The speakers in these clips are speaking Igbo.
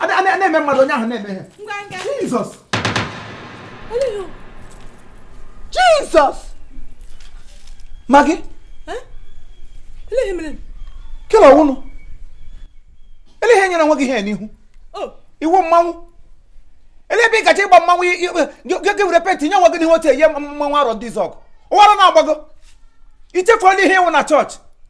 a na- a na- a na-eme mmadụ onye ahụ na-eme ihe ngwa ngwa jizọs Olio. jizọs Maggi Eh? Ele ihe mere? kele ọ wụnụ ele ihe nyere nwa gị ihe n'ihu Oh, ị wụ mmanwụ ele ebe ị gaje ịgba mmanwụ i- i- gị- gị gị were penti nye nwa gị n'ihu otu eye mmanwụ Arọndizuọgụ ụwara na-agbago i chefuola ihe ị wụ na chọọchị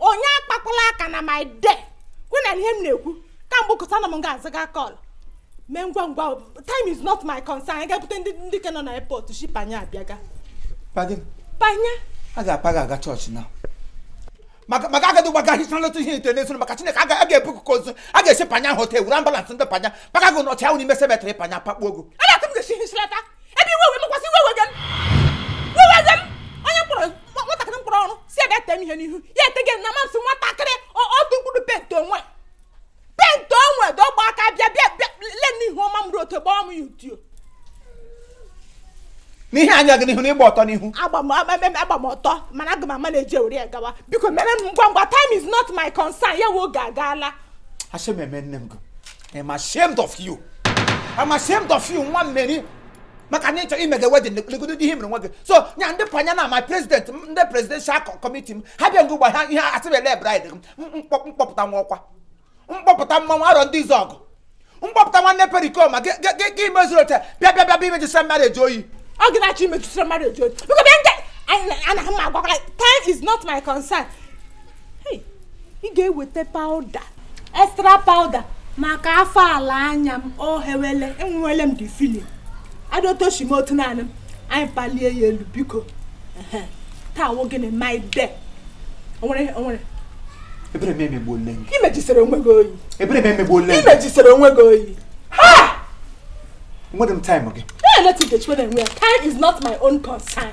onye akpakwala aka na my day kwe na ihe m na-ekwu kamgbe ụkọta na m ga-azaga kọl mee ngwa ngwa time is not my concern anyị ga-ebute ndị ndị ke nọ na airport shi panya abịaga Pardon? panya a ga-apa gị aga chọọchị na maka maka agadi gbaga ahịcha nleta ihe ite n'efu maka chineke a ga- a ga-ebu kụkọ ozu a ga-esi panya ahụ taa e were ambalansị ndị panya paga gị n'ọchị ahụ n'ime semetrị panya pakpuo ogo Ada ka m ga-esi hichlata ebe iwe wee mekwasị iwe wege m iwe wege m onye m kpọrọ nwatakịrị m kpọrọ ọrụ sị bịa ete m ihe n'ihu ya etege na mamsị nwatakịrị otu mkpụrụ penti o nwe penti o nwe dọgba aka bịa bịa bịa le n'ihu ọma m otu gbaa m ya udio n'ihe anya gị n'ihu na ịgba ọtọ n'ihu agba m ọtọ mana aga m ama na-eji ewere ya gawa biko mere m ngwa ngwa time is not my concern ya wụ oge agala shame eme nne m gị I'm ashamed of you. I'm ashamed of you nwa Meri maka na ịchọ imega wedin legodo ihe mere nwa gị so nya ndị panya na my president ndị presidential committee m ha bịa m gwa ha ihe a sị ebele bride m kpọpụta nwa ọkwa m kpọpụta mmanwụ Arọndizuọgụ m kpọpụta nwanne Perikoma gị mezuru oche bịa bịa bịa bịa imejisira marriage oyi ọ gị na-achọ imejisira marriage oyi biko bịa nje ana m agwakwala time is not my concern ị ga-eweta pawuda extra pawuda maka afọ ala anya m o hewele enwewele m the feeling adịotochi m otu naanị m anyị palie ya elu biko taa wụ gịnị my day onwere onwere ebere m emegbuole gị imejisere onwe gị oyi ebere m emegbuole gị imejisere onwe gị oyi ha nwere m taịm gị na-eleta Ikechukwu na-enwe ya time is not my own concern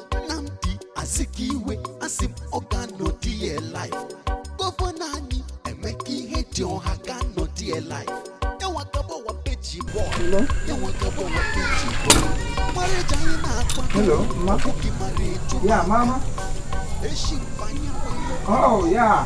Nnamdi Azikiwe asị m ọ ga-anọ there live gọvanọ anyị Emeka Ihedioha ga-anọ there live ya nwa ga-abụ page boy ya nwa ga-abụ page boy marriage anyị na-akpa Hello, ma. ọ bụghị marriage Yeah, mama. eshi mbanye Oh, yeah.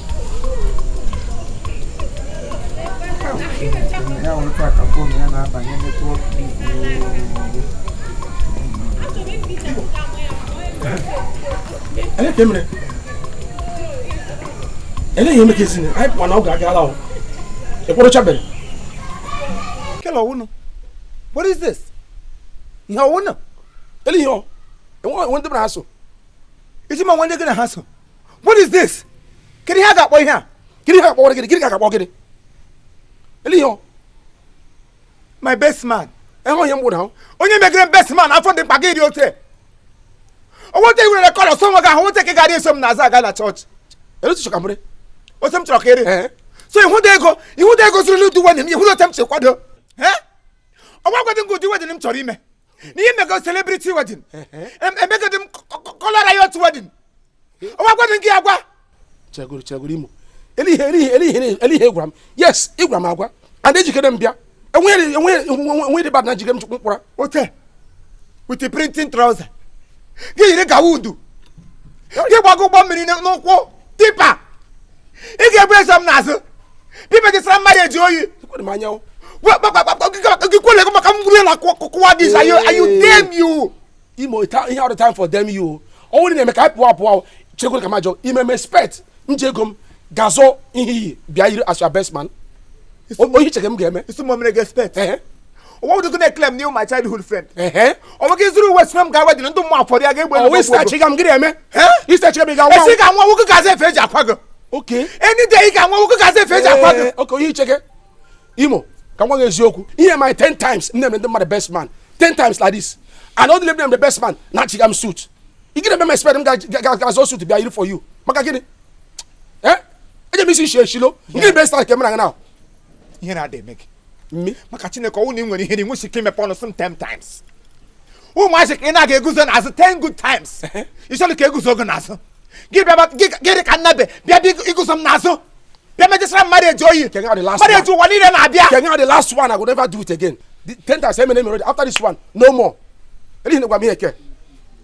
ya otu a ka fon ya na-abanye netwọk Ele ka emere ele ihe emeka ezinye anyị pụwa na oge agala ekpọrọchabere kele ọ wụnụ what is this ihe ọ wụnụ ele ihe ọ enwe ndị bụrụ ha so isi ma nwe ndị gị na ha so what is this kedu ihe a ga-akpọ ihe a kedu ihe a ga-akpọwara gịnị gịnị ka a ga-akpọ gịnị elee ihe my best man enwe onye mgbụrụ ahụ onye megere best man afọ dị mkpa gị dị otu onweta iwere rekọd ọsọ nwe gị ahụ nweta ka ị gara eso m n'azụ aga na chọọchị elee otu ị chọ ka mre otu m chọrọ ka eri so ị hụla ego ị hụla ego zuru n'ụdị nwanne m ị hụla otu m si kwado ọ wụ agwadị m gị ụdị wedịn m chọrọ ime na ihe m mega celebrity wedding emegadị m colour riot wedding ọ wụ agwadị m gị agwa chegoro chegoro imo elee ihe elee ihe elee ihe elee ihe ị gwara m yes ị gwara m agwa and ejikere m bịa enweghị enweghị enweghị dị bad na ejikere m chukwu mkpụra ote with the printing trouser gị yiri gawa udu gị gbago ụgbọ mmiri n'ụkwụ tipper ị ga-ebu eso m n'azụ pipa gị sara m marriage oyi gị kwele gị maka mgburu na kụwa dị izu ayu damn you imo ihe ọ wụghị time for damn you ọ bụrụ na-eme ka anyị pụọ apụọ chekwere ka m jụọ i me m expect m ji ego m gaa zụọ ihe iyi bịa yiri as your best man ọ ihe i chere m ga-eme yes m mere gị expect ọ wụghị gị na-eclaim na ị wụ my childhood friend ọ wụ gị zụrụ uwe sị na m ga wedin ndị mma afọrọ ya ga-egbe ọ wụ ị sị achịga m gịrị eme ị sị achịga m ị ga-anwụ e sị ị ga-anwụ anwụ m gaa zụọ efe e ji akwa gị okay any day ị ga-anwụ anwụ m gaa zụọ efe e ji akwa gị okay ọ ihe i chege imo ka m gwa gị eziokwu ihe a mee ya ten times nne m ndị mmadụ best man ten times like this and onye ọ wụla m mere best man na-achịga m suit ị gịrị eme m expect m gaa zụọ suit bịa yiri for you maka gịnị eh eje m isi nshi eshilo ngịrị best man ka emere gị na ihere adị eme gị maka chineke ọ wụ na ị nwere ihere i nweghị ike imepe ọnụ sị m ten times ụmụazị ka ị na-aga eguzo n'azụ ten good times ị chọrọ ka e guzo gị n'azụ gị bịaba gị dị ka nnabe bịa bịa eguzo m n'azụ bịa mejisara m marriage oyi marriage ụwa niile na-abịa ke a wụ the last one i go never do it again the ten times emere emere after this one no more elee ihe ị na-agwa m ihe ke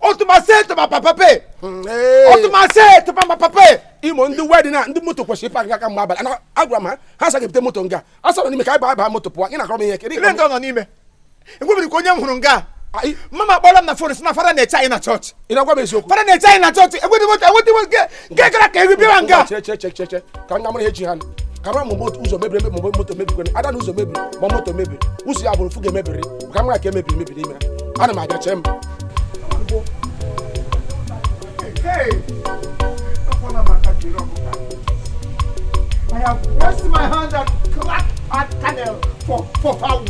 otumasete ma papa pe otumasete ma papa pe imo ndị wedin a ndị moto kwesịrị ịbịa nga kemgbe abalị ana agwara m ha ha sị ga-ebute moto nga a sị ọ nọ n'ime ka anyị baa baa moto pụọ ị na-akọrọ m ihe kedu elee ndị nọ n'ime enwebiri ka onye m hụrụ nga mama kpọrọ m na fon sị na fada na-eche anyị na chọọchị ị na-agwa m eziokwu fada na-eche anyị na chọọchị e nwedị moto e nwedị moto nke gara ka eri bịara nga che che che che che ka m ga mara ihe ji ha nụ. ka m mara ma moto ụzọ mebiri emebi ma moto mebiri ada na ụzọ mebiri ma moto mebiri ụzọ ya bụrụ fuga emebiri ka m mara ka emebiri mebiri ime ana m abịa chee m I have washed my hand and cracked my kernel for, for fowl.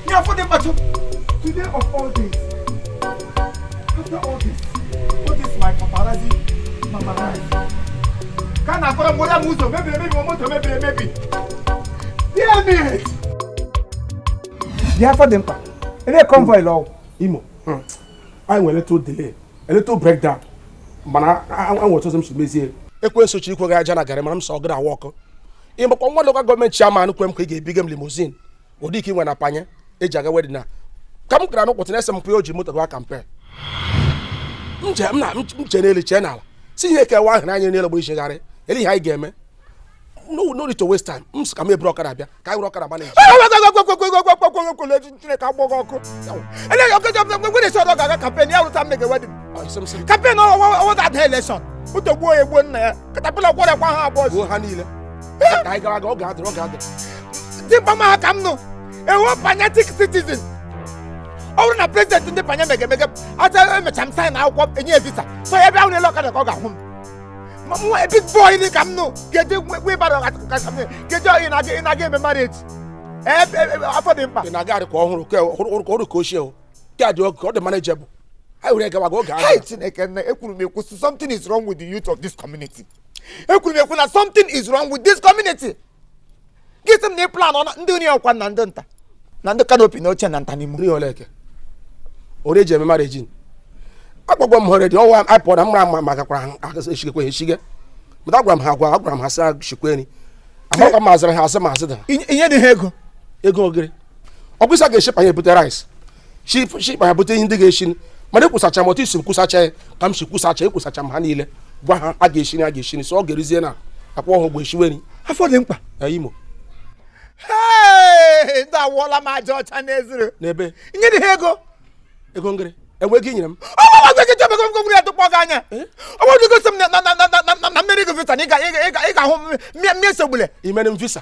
Now for the battle, today of all days, ka a na-akọrọ mgbe onye m ụzọ mebiri emebi ma moto mebiri emebi bịa Afọdịmkpa ele convoy lọ Imo hmm. anyị nwere little delay little breakdown mana enwe otu ọzọ m si mezie ekwensu chịkwa gị aja na garị mara m sọ gị na awa ọkụ ị makwa nwa local government chairman kwe m ka ị ga-ebiga m limousine ụdị nke e nwe na Panya eji aga wedding na ka m gara n'ụkwụtụ na-ese m pụọ o ji moto gaa campaign m je m na m je n'elu chee n'ala si ihe kewa ahụ n'anya n'elu gbụ ichegharị ele ihe anyị ga-eme no no need to waste time m sị ka m eburu ọkada bịa ka anyị were ọkada gbana eji Chineke kpọọ gị ọkụ eleghị ọkọjọ nwere isi ọdọ ga-aga campaign ya rụta mmege wedding Ọ, isi m sị, campaign ọwa ga-ada election moto gbuo ya egbuo nna ya katapila kwọrọkwa ha abụọ gbuo ha niile ka anyị gara aga oge adịrọ oge adịrọ dịkwa m ha ka m nụ ewo panatic citizen ọ bụrụ na president ndị Panya mege mege aja emecha m sign akwụkwọ enye visa so ya bịa hụ m n'elu ọkada ka ọ ga-ahụ m Ma mụ big boy dị ka m nụ ga-eji wibara kacha m ga-eji ọyị na-aga ị na-aga eme marriage Ee, e, e, Afọdịmkpa ị na-aga arị ka ọhụrụ ka ọhụrụ ka ọhụrụ ka ochie o ka ọ dị okay ka ọ dị manageable anyị were gawa gị oge Hai ahụ Chineke nna ekwuru m ekwu something is wrong with the youth of this community ekwuru m ekwu na something is wrong with this community gị sị m na ị plan ọna ndị onye ọkwa na ndị nta na ndị kanopi na oche na nta na imo ri oleke ori eji eme marriage agwagwa m hore dị ọwa apụ na mma ma ma gakwara ha eshigekwa ha eshige mata agwara m ha agwa agwara m ha sị ha shikwa nri amakwa m azịrị ha asị m asị dị ha inye dị ha ego ego ngịrị ọ bụ ị sị a ga-eshi Panya ebute rice shi Panya bute ihe ndị ga-eshi mana ekwusacha m otu ị sị m kwusacha ya ka m si kwusacha ekwusacha m ha niile gwa ha a ga-eshi nri a ga-eshi nri so ọ ga-erizie na akwa ọhụ bụ eshiwe nri Afọdịmkpa Imo ndị awụọla m aja ọcha n'ezuru n'ebe nye dị ha ego ego ngịrị enweghị i nyere m ọgwụgwụ ya tụkpọ gị anya ọgwụgwụ gosi m na m mere gị visa na ị ga-ahụ mmiri sogbule i mere m visa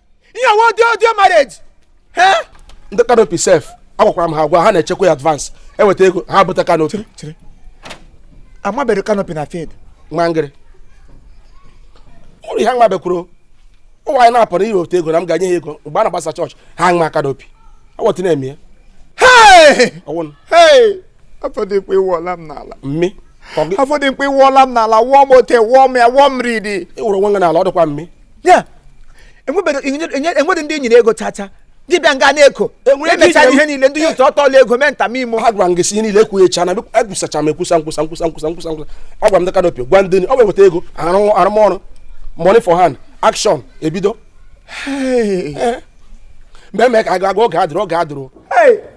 ihe nwe audio audio marriage ndị kanopi sef agwakwara m ha agwa ha na-echekwa ya advance eweta ego ha bụta kanopi amabere kanopi na field nwa ngịrị ụrụ ha nwabekwuru ụwa anyị na-apụ na iweta ego na m ga-enye ha ego mgbe a na-agbasa church ha nwa kanopi awọtị na-eme ya Afọdịmkpa ị wụọla m n'ala mmi Afọdịmkpa ị wụọla m n'ala wụọ m ote wụọ m ya wụọ m ridi ị wụrụ nwa n'ala ọ dịkwa mmi ya enwebedo enye- enweghị ndị nyere ego chacha gị bịa nga na-eko Enwere ndị emechara nyere- ihe niile ndị youth ọtọọla ego mee nta imo ha gwara m gị sị ihe niile ekwuchana ekwusacha m ekwusa nkwusa nkwusa nkwusa nkwusa nkwusa agwara m ndị kanopi gwa ndị ni- ọ bụ eweta ego arụ- arụmọrụ money for hand action ebido Hey. mgbe mee ka aga aga oge adịrọ oge adịrọ Hey.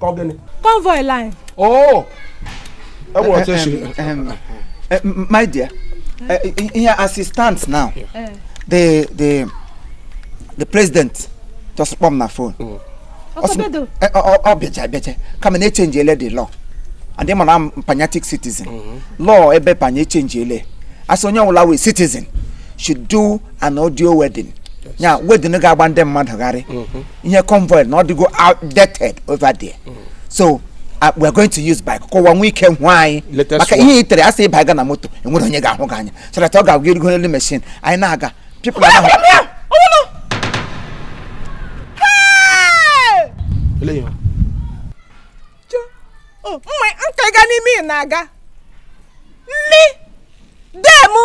ka ọ gịnị convoy line oh e nwere otu esi eh, my dear ihe eh, as it stands now eh. the the the president just kpọọ m na phone mm. ọ bịacha bịacha ka m ma na echenjiele the law and I'm a patriotic citizen mm-hmm. law ebe Panya echenjiele a sị onye ọbụla wụ citizen should do an audio wedding ya wedding ga-agba ndị mmadụ gharịị mm-hmm. ihe convoy na ọ dịgo outdated over there mm. so uh, we are going to use bike ka ụwa nwee ike hụ anyị maka ihe itere asị ịba ga na moto enwere onye ga-ahụ gị anya so that ọ ga-awụ e rigo n'elu machine anyị na-aga people are now. Oh, mma nka ga n'ime ị na-aga nne demu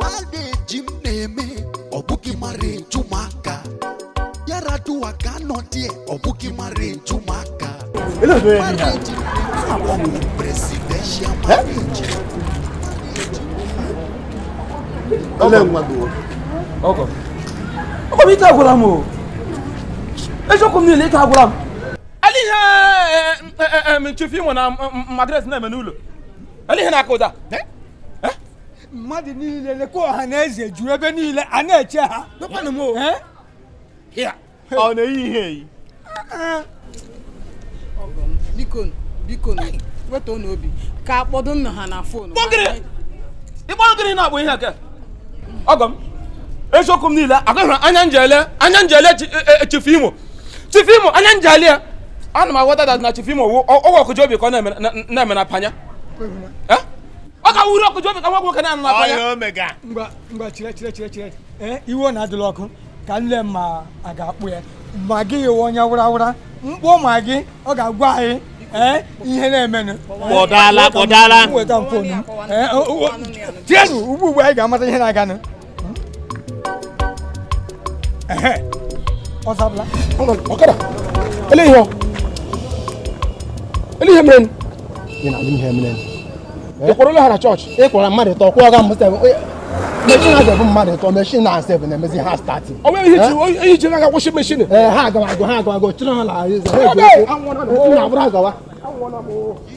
Marriage m na-eme ọ bụghị marriage ụmụaka Yar'Adua ka nọ dị ọ bụghị marriage ụmụaka Ele do ele Marriage m na-eme ọ bụ presidential marriage Ele nwa do. ọgọ ọgọ m ike agwụla m o eziokwu m niile ike agwụla m olee ihe Chief Imo na madres na-eme n'ụlọ Olee ihe na-akụ ụda? Eh? Eh? Mmadụ niile lekwa ọha na eze juru ebe niile a na-eche ha. Lekwanụ m o. Eh? Ọ na-eyi ihe eyi. Biko biko wetuonụ obi ka akpọdo nna ha na fon. Ịkpọ gịnị na-akpọ ihe aka? Ọgọ m. eziokwu m niile agaghị anya njele anya njele e, e, Chief Imo Chief Imo anya njele ya ana m aghọta that na Chief Imo ọ wụ ọgwụ ọkụji obi ka ọ na-eme na panya eh? ọ ka wuru ọkụji obi ka nwa nwoke na-anụ na panya eh, igwe na adịla ọkụ ka m lee ma a ga-akpụ ya Maggi iwe onye wụra wụra m kpọọ Maggi ọ ga-agwa anyị eh, ihe na-emenụ kpọdala kpọdala tienụ ugbu ugbu anyị ga-amata ihe na-aganụ ọzabla ọkada ele ihe ele ihe mere ị na-alụ ihe mere ị kwụrụla ha na chọọchị ị kwụra mmadụ ịtọ kwụọ ga mụta meshin a ga-ebu mmadụ ịtọ meshin a sef na-emezi hard starting ọ nwere ihe ji na-aga kwụsị meshin ha agamago ha agamago chịrị ha na ha eji ụkwụ na-abụrụ agawa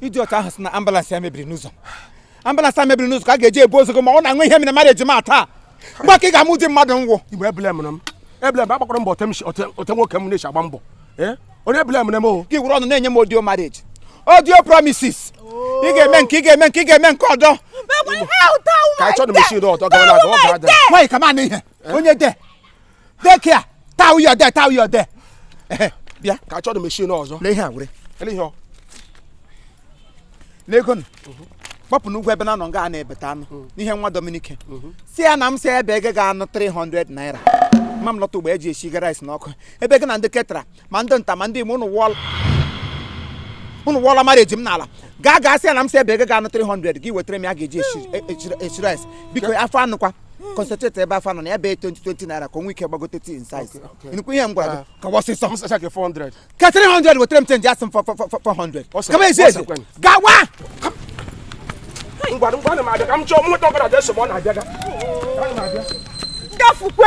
idiot ahụ sị na ambulance ya mebiri n'ụzọ ambulance ya mebiri n'ụzọ ka a ga-eji ebu ozu gị ma ọ na-enwe ihe mere marriage m a taa mgbe ahụ ka ị ga-ama ụdị mmadụ m wụ igbe eblemla m eblem agbakwara m mbọ otu nwoke m na-esi agba mbọ eh? onye eblemla m o gị were ọnụ na-enye m audio marriage audio promises ị ga-eme nke ị ga-eme nke ị ga-eme nke ọdọ ka achọ na meshin ọtọ gara aga ọ ga-ada nwaanyị ka ma na ihe eh? onye de Take care. Tau you there, tau you there. Bịa ka achọ dị machine ọzọ. Lee ihe a were. Lee ihe ọ. Lee ego nụ. Gbapụ n'ugwu ebe na-anọ nga a na-ebeta anụ n'ihe nwa Dominic. Sị ya na m sị ebe ego ga-anụ 300 naira. Ma m lọta ugbu a e ji eshi rice n'ọkụ. Ebe gị na ndị ketara ma ndị nta ma ndị imo ụnụ wụọla ụnụ wụọla marriage m n'ala gaa gaa sị ya na m sị ebe ego ga-anụ 300 gị wetara m ya ga-eji eshiri rice biko afọ anụkwa concentrate ebe afọ anụ na ya bee 20 20 naira ka o nwee ike gbagote tii size nnukwu ihe m gwara gị ka wọsị sọ Msacha ke 400. ke 300 wetara m chenji asị m fọ- fọ- fọ- fọ- 400 Ọsọ- kama ezi ezi ọsọ kwen. gawa Ngwa ngwa na m abịa ka m chọọ m nweta ọbara dị nsogbu ọ na-abịa ga. Ana m abịa. gafukwe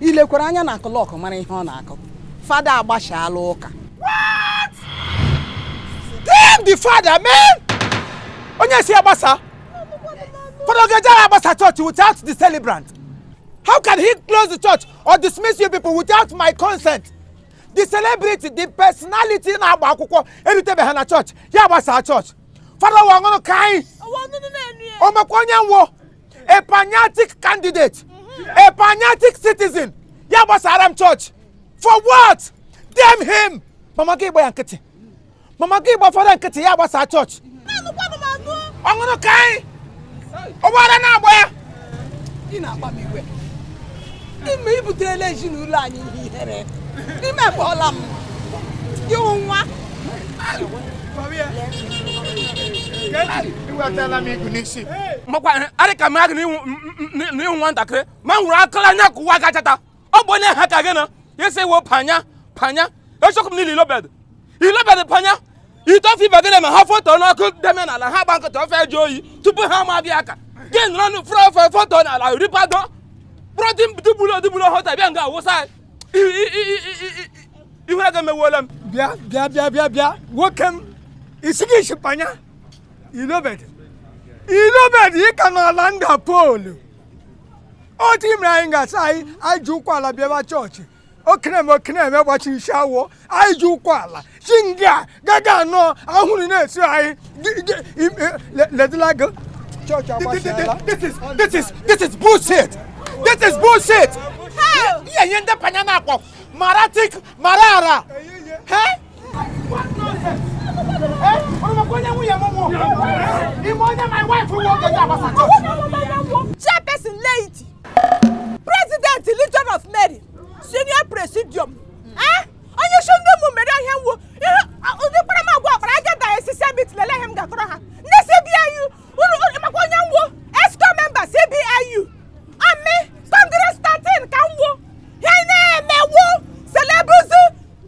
i lekwara anya na klọk mara ihe ọ na-akụ fada agbasala ụka Damn the father, man! Onye sị a gbasaa? Father ọ ga-eje agbasa church without the celebrant. How can he close the church or dismiss you people without my consent? The celebrity, the personality na-agba akwụkwọ erutebeghị na church, ya agbasa church. Father wa ọ ṅụrụ kaị, ọnụnụ na-enu ya o mekwa onye nwụọ. a Panyatic candidate a Panyatic citizen ya gbasara m chọọchị for what damn him mama gị gba ya nkịtị mama gị gba fada nkịtị ya gbasa chọọchị ọ ṅụrụ kaị ọ wụ ara na-agba ya ime i butela ezinụlọ anyị ihe ihere i mekpọla m gị nwa makwa arị ka mmadụ n'ịhụ nwatakịrị ma m nwụrụ akụla anya ka ụwa gachata ọ bụ onye ha ka gị na isi wo Panya Panya echọkụ m niile Ilobed Ilobed Panya itofi bagide ma ha foto n'ọkụ deme n'ala ha gba nkịtị ofe ajụọ oyi tupu ha ma bịa aka gị nọrọ nụ fụrụ ofe foto n'ala ripado bụrụ dị dịgburu odịgburu hota bịa nga awụsa ihu ego emewuola m bịa bịa bịa bịa bịa nwoke m ị sị gị shi Panya Ilobed Ilobed ị ka n'ala nda Pọọlụ otu i mere anyị ga-asa anyị anyị ji ụkwụ ala bịaba chọọchị okenem okenem gbachiri isi awọ anyị ji ụkwụ ala shi nga gaga anọ ahụrụ na-esi anyị ledịlago chọọchị agbasiala this is this is this is bullshit this is bullshit ihe ihe ndị Panya na-akpọ maratik marara chairperson lady president legion of mary senior presidium eh? onye isi ndị ụmụ mary nwo ihe ụdị kparamagwa ọkpara aja da esisi abit lele ihe m ga-akọrọ ha ndị cbiu uru makwa onye nwo exco member cbiu ami congress 13 ka nwo ihe na-emewo celebrity